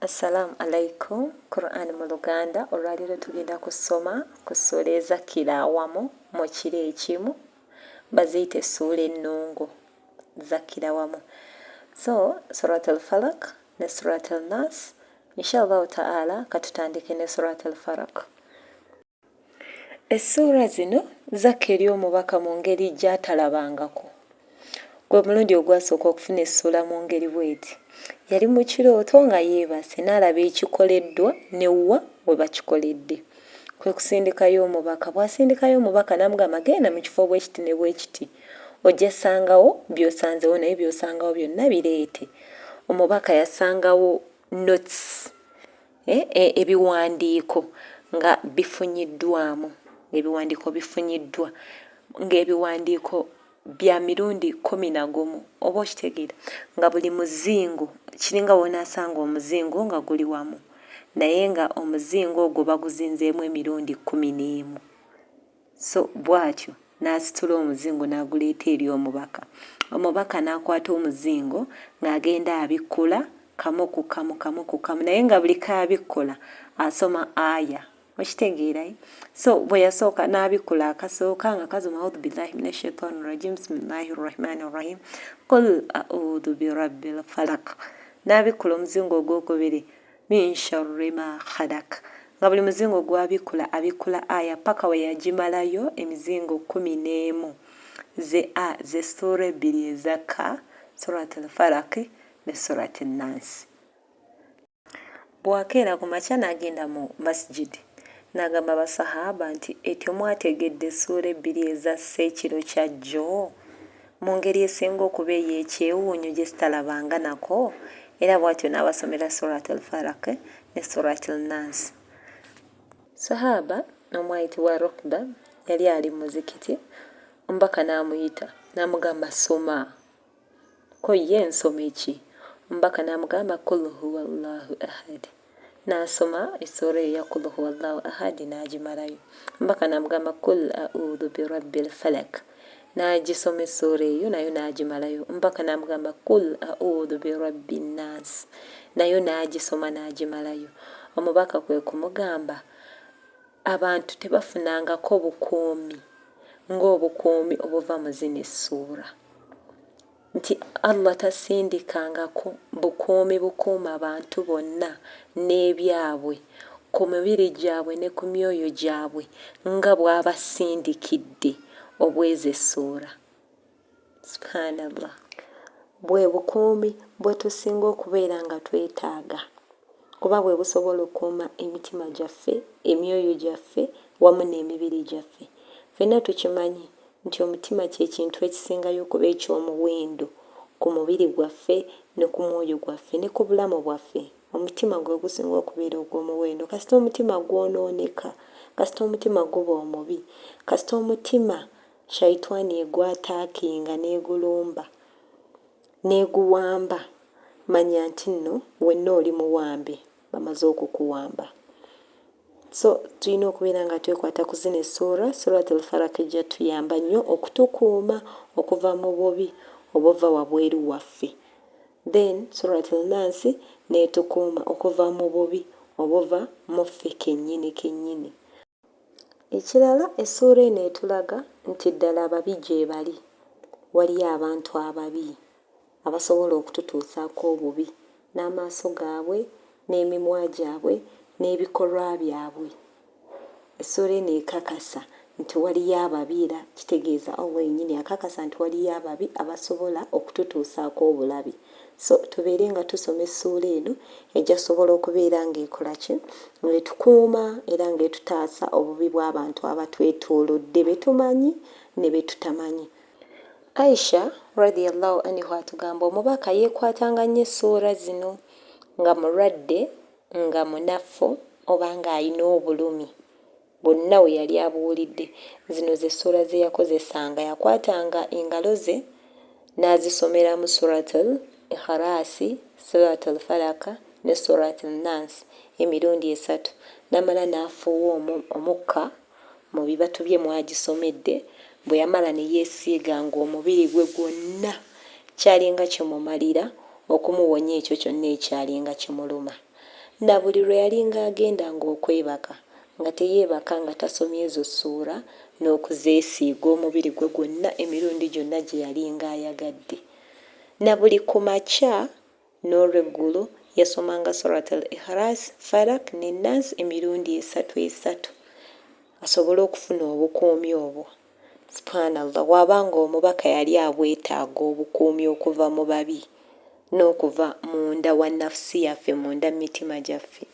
Assalamu alaikum Quran mu Luganda olwaleero tugenda kusoma ku ssuula ezakkira awamu mu kiro ekimu baziyita essuula ennungu zakkira wamu so surat al falak ne surat al nas inshallahu taala katutandike ne surat al farak Essuula zino zakka eri omubaka mu ngeri gy'atalabangako. Gwe mulundi ogwasooka okufuna essuula mu ngeri bw'eti. Yali mu kirooto nga yeebase n'alaba ekikoleddwa ne wa we bakikoledde. Kwe kusindikayo omubaka. Bw'asindikayo omubaka n'amugamba genda mu kifo bwe kiti ne bwe kiti ojja ssangawo by'osanzewo naye by'osangawo byonna bireete. Omubaka yasangawo notes. e, e, ebiwandiiko nga bifunyiddwamu ng'ebiwandiiko bifunyiddwa ng'ebiwandiiko bya mirundi kkumi na gumu oba okitegeera nga buli muzingo kiringa w'onaasanga omuzingo nga guli wamu naye nga omuzingo ogwo baguzinzeemu emirundi kkumi n'emu So bw'atyo n'asitula omuzingo n'aguleeta eri omubaka. Omubaka n'akwata omuzingo ng'agenda abikkula kamu ku kamu, kamu ku kamu, naye nga buli k'abikkula asoma aya. Okitegeera? Eh? So bwe yasooka n'abikkula akasooka nga kasoma audhu billahi mina shaitani rajim bisimillahi rrahmani rrahim qul audhu birabbil falaq n'abikkula omuzingo ogwokubiri Min sharri ma khalaq nga buli muzingo gwabikkula abikkula aya paka weyagimalayo emizingo kumi nemu ze a ze sura ebbiri ezakka surat al falaq ne surat al nas. Bwakeera kumakya nagenda mu masjid nagamba ba swahaaba nti etyo mwategedde sura ebbiri ezassa ekiro kyajjo? Mu ngeri esinga okuba ey'ekyewuunyo gye sitalabanga nako, era bw'atyo n'abasomera Surat Al-Falaq ne Surat Al-Naas. Swahaaba omu ayitibwa Rukba yali ali mu muzikiti, Omubaka n'amuyita n'amugamba, Soma! Ko ye, Nsome ki? Omubaka n'amugamba, Qul Huwa Llahu Ahad. N'asoma essuula eyo eya Qul huwallahu ahadi n'agimalayo mpaka n'amugamba Qul a'udhu birabbil falak. N'agisoma essuula eyo nayo n'agimalayo mpaka n'amugamba Qul a'udhu birabbin nas. Nayo n'agisoma n'agimalayo. Omubaka kwe kumugamba, Abantu tebafunangako bukuumi ng'obukuumi obuva mu zino essuula. nti Allah tasindikangako bukuumi bukuuma bantu bonna n'ebyabwe ku mibiri gyabwe ne ku myoyo gyabwe nga bw'abasindikidde obweza essuula. Subhaanallah. Bwe bukuumi bwe tusinga okubeera nga twetaaga. kuba bwe busobola okukuuma emitima gyaffe, emyoyo gyaffe, wamu n'emibiri gyaffe. Ffenna tukimanyi nti omutima kye kintu ekisingayo okuba eky'omuwendo ku mubiri gwaffe, ne ku mwoyo gwaffe, ne ku bulamu bwaffe. Omutima gwe gusinga okubeera ogw'omuwendo. Kasita omutima gwonooneka, kasita omutima guba omubi, kasita omutima Shaitwani egwataakinga n'egulumba, N'eguwamba, manya nti nno wenna oli muwambe, bamaze okukuwamba. So tulina okubeera nga twekwata ku zino essuura, Surat al-Falaq ejja tuyamba nnyo okutukuuma okuva mu bubi obuva wabweru waffe. Then Surat al-Naasi n'etukuuma okuva mu bubi obuva mu ffe kennyini kennyini. Ekirala essuula eno etulaga nti ddala ababi gyebali, waliyo abantu ababi abasobola okututuusaako obubi n'amaaso gaabwe n'emimwa gyabwe n'ebikolwa byabwe. Essuula eno ekakasa nti waliyo ababi era kitegeeza Allah yennyini akakasa nti waliyo ababi abasobola okututuusaako obulabe. so tubeere nga tusoma essuula eno ejasobola okubeera ng'ekola ki ng'etukuuma era ng'etutaasa obubi bw'abantu abatwetoolodde be tumanyi ne be tutamanyi aisha radiallahu anihu atugamba omubaka yeekwatanga nnyo essuula zino nga mulwadde nga munafu oba ng'alina obulumi Bwonna we yali abuwulidde. Zino ze ssuula ze yakozesanga, yakwatanga engalo ze n'azisomeramu Suratul Ikhalaasi, Suratul Falaq ne Suratul Nnaas emirundi esatu n'amala n'afuuwa omu, omukka, mu bibatu bye mw'agisomedde, bwe yamala ne yeesiiga ng'omubiri gwe gwonna kyalinga kimumalira okumuwonya ekyo kyonna ekyalinga kimuluma. Na buli lwe yalinga agenda nga okwebaka, nga teyeebaka nga tasomye ezo ssuura n'okuzeesiiga omubiri gwe gwonna emirundi gyonna gye yalinga ayagadde. Na buli ku makya n'olweggulo yasomanga Surat Al-Ikhlas, Falak ne Naas emirundi esatu esatu asobole okufuna obukuumi obwo. Subhanallah bwaba nga omubaka yali abwetaaga obukuumi okuva mu babi n'okuva munda wa nafsi yaffe munda mumitima gyaffe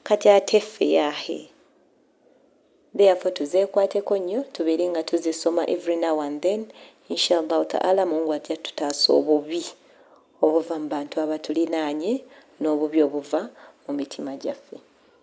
kati ate ffe yaahe therefore tuzekwateko nnyo tubeere nga tuzisoma every now and then inshallah ta'ala mungu ajja tutaasa obubi obuva mu bantu abatulinaanye n'obubi obuva mu mitima gyaffe.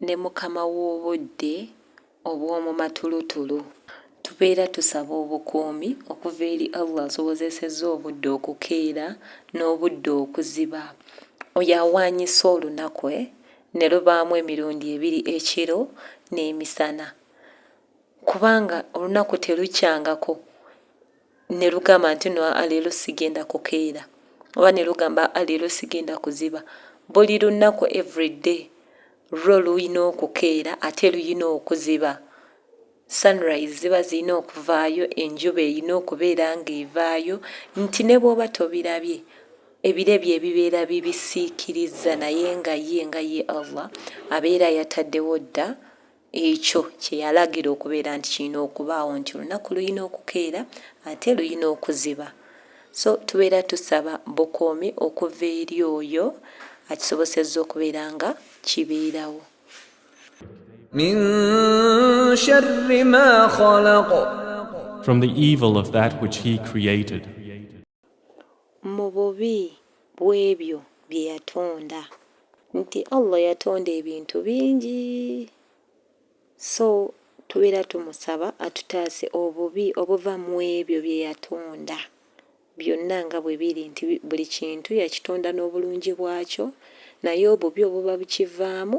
ne mukama w'obudde obw'omu matulutulu. Tubeera tusaba obukuumi okuva eri Allah asobozesezza obudde okukeera n'obudde okuziba, oyo awaanyisa olunaku ne lubaamu emirundi ebiri ekiro n'emisana, kubanga olunaku telukyangako. ne lugamba nti no aleero sigenda kukeera oba ne lugamba aleero sigenda kuziba buli lunaku everyday lwo luyina okukeera ate luyina okuziba sunrise ziba zirina okuvaayo enjuba erina okubeera nga evaayo nti ne bwoba tobirabye ebire bye ebibeera bibisiikirizza naye nga ye nga ye allah abeera yataddewo dda Ekyo kye yalagira okubeera nti kirina okubaawo nti olunaku lulina okukeera ate lulina okuziba. So tubeera tusaba bukuumi okuva eri oyo akisobosezza okubeera nga kibeerawo. Min sharri ma khalaq. From the evil of that which he created. mu bubi bw'ebyo bye yatonda. Nti Allah yatonda ebintu bingi so tubeera tumusaba atutaase obubi obuva mu ebyo bye yatonda byonna nga bwe biri nti buli kintu yakitonda n'obulungi bwakyo naye obubi obuba bukivaamu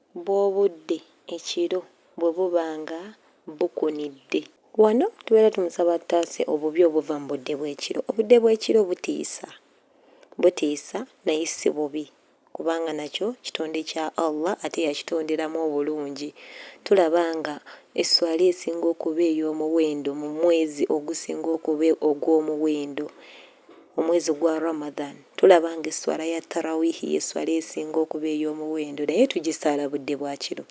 bw'obudde ekiro bwe buba nga bukunidde. Wano tubeera tumusaba atutaase obubi obuva mu budde bw'ekiro. Obudde bw'ekiro butiisa, butiisa naye si bubi kubanga nakyo kitonde kya Allah ate yakitonderamu obulungi. Tulaba nga esswala esinga okuba ey'omuwendo mu mwezi ogusinga okuba ogw'omuwendo Omwezi gwa Ramadhan tulaba nga esswala ya Tarawiihi y'esswala esinga okuba ey'omuwendo naye tugisaala budde bwa kiro.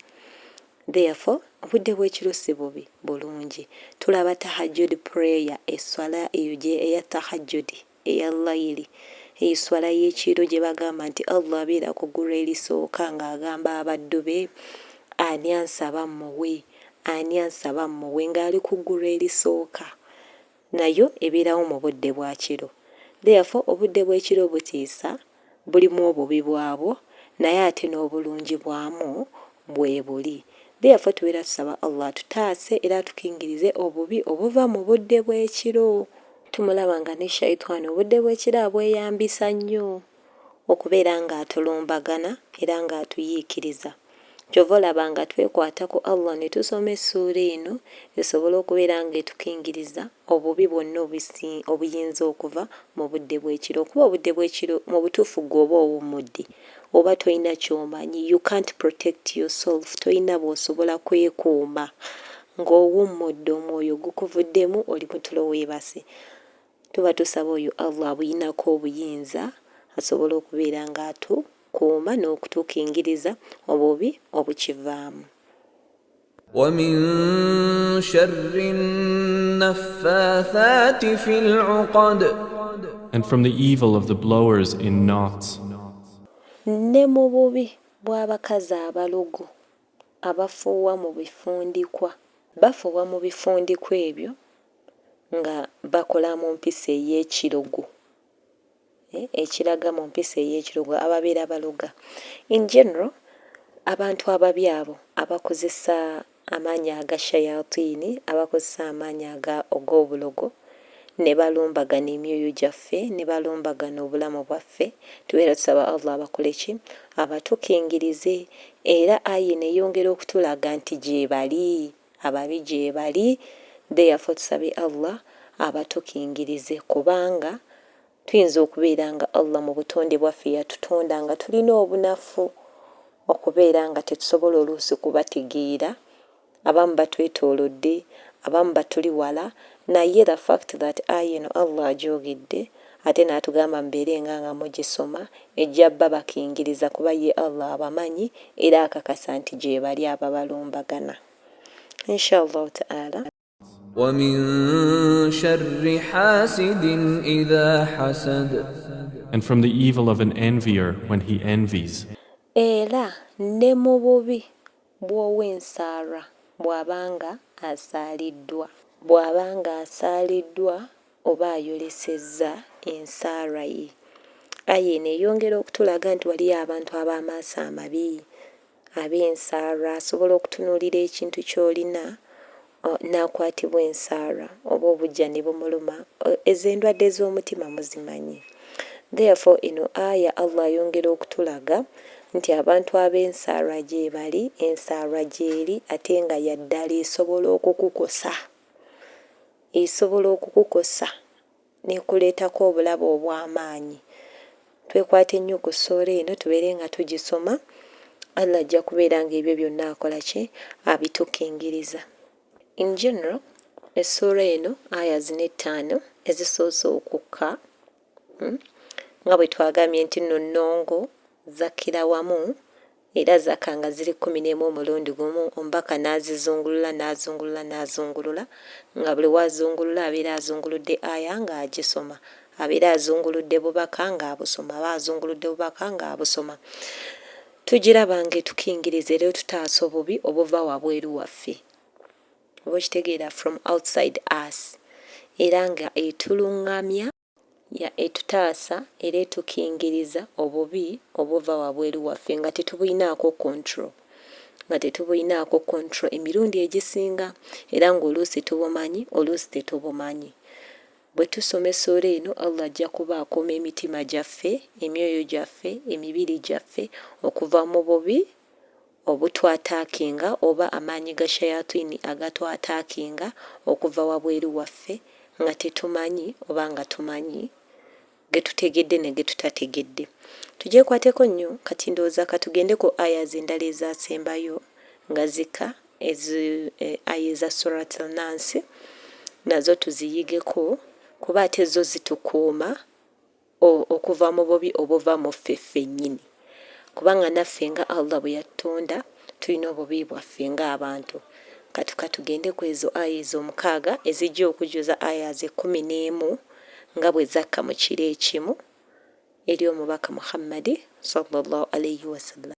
Therefore, obudde bw'ekiro si bubi, bulungi. Tulaba Tahajjud prayer, esswala eyo gye, eya Tahajjud, eya Layili, eyo esswala y'ekiro gye bagamba nti Allah abeera ku ggulu erisooka nga agamba abaddu be, Ani ansaba mmuwe? Ani ansaba mmuwe? Nga ali ku ggulu erisooka. Nayo ebeerawo mu budde bwa kiro. Therefore, obudde bw'ekiro butiisa, bulimu obubi bwabwo, naye ate n'obulungi bwamu bwebuli. Therefore, tubeera tusaba Allah atutaase era atukingirize obubi obuva mu budde bw'ekiro. Tumulaba nga ne Shaytwaan obudde bw'ekiro abweyambisa nnyo. okubeera nga atulumbagana era nga atuyiikiriza. Kyova olaba nga twekwata ku Allah ne tusoma essuula eno esobole okubeera nga etukingiriza obubi bwonna obusi obuyinza okuva mu budde bw'ekiro kuba obudde bw'ekiro mu butuufu ggwe oba owummudde oba tolina ky'omanyi you can't protect your self tolina bw'osobola kwekuuma ng'owummudde omwoyo gukuvuddemu oli mu tulo weebase. Tuba tusaba oyo Allah abuyinako obuyinza asobole okubeera nga atu kuuma n'okutukingiriza obubi obukivaamu. Wa min sharri naffathati fil uqad. And from the evil of the blowers in knots. Ne mu bubi bw'abakazi abalogo. Abafuuwa mu bifundikwa. Bafuuwa mu bifundikwa ebyo nga bakola mu mpisa ey'ekirogo, ekiraga mu mpisa ey'ekirogo, ababeera baloga. In general, abantu ababi abo abakozesa amaanyi aga shayatini, abakozesa amaanyi aga, og'obulogo. ne balumbagana emyoyo gyaffe ne balumbagana obulamu bwaffe tubeera tusaba Allah abakoleki abatukingirize era aya eno eyongera okutulaga nti gyebali ababi gyebali therefore tusabe Allah abatukingirize kubanga tuyinza okubeera nga Allah mu butonde bwaffe yatutonda nga tulina obunafu okubeera nga tetusobola oluusi kubategeera. Abamu batwetolodde, abamu batuli wala, naye the fact that aya eno Allah agyogedde ate natugamba mubeere nga nga mugisoma, ejja babakingiriza kuba ye Allah abamanyi era akakasa nti gyebali ababalumbagana. Inshallahu ta'ala. And from the evil of an envier when he envies. Era ne mu bubi bw'ow'ensaalwa bw'aba nga asaaliddwa. Bw'aba nga asaaliddwa oba ayolesezza ensaalwa ye. Aya eno eyongera okutulaga nti waliyo abantu ab'amaaso amabi, ab'ensaalwa, asobola okutunuulira ekintu ky'olina n'akwatibwa ensaalwa oba obujja ne bumuluma, ezo endwadde z'omutima muzimanyi. Therefore eno Aya Allah ayongera okutulaga nti abantu ab'ensaalwa gyebali, ensaalwa gyeri ate nga ya ddala esobola okukukosa, esobola okukukosa. n'ekuleetako obulabe obw'amaanyi. Twekwate nnyo ku ssuula eno tubeere nga tugisoma, Allah ajja kubeera nga ebyo byonna akola ki? Abitukingiriza. In general, essuula eno aya zino ettaano ezisoose okukka, nga bwe twagambye nti nno nnongo, zakkira wamu Era zaka nga ziri kkumi n'emu omulundi gumu, omubaka n'azizungulula n'azungulula n'azungulula, nga buli w'azungulula abeera azunguludde aya nga agisoma, abeera azunguludde bubaka nga abusoma, aba azunguludde bubaka nga abusoma, tugiraba nga etukingiriza era etutaasa obubi obuva wabweru waffe, oba okitegeera, from outside us, era nga etulungamya. Ya etutaasa era etukingiriza obubi obuva wabweru waffe nga tetubulinaako control. Nga tetubulinaako control emirundi egisinga era ng'oluusi tubumanyi oluusi tetubumanyi. Bwe tusoma essuula eno Allah ajja kuba akuuma emitima gyaffe, emyoyo gyaffe, emibiri gyaffe okuva mu bubi Obutwa attackinga oba amaanyi ga shayatwini agatwa attackinga okuva wabweru waffe nga tetumanyi oba nga tumanyi, getutegedde ne getutategedde. Tugyekwateko nnyo, kati ndowooza katugende ku Ayahs endala ezasembayo nga zikka ezi Aya eza Surat Al-Naasi nazo tuziyigeko kuba ate zo zitukuuma. O, okuva mu bubi obuva mu ffe ffennyini. Kubanga naffe nga Allah bwe yatutonda, tulina obubi bwaffe nga abantu. Kati ka tugende ku ezo aya ezo omukaaga ezijja okujjuza aya ze kkumi n'emu nga bwe zakka mu kiro ekimu eri Omubaka Muhammadi, swalla Llaahu alaihi wasallam.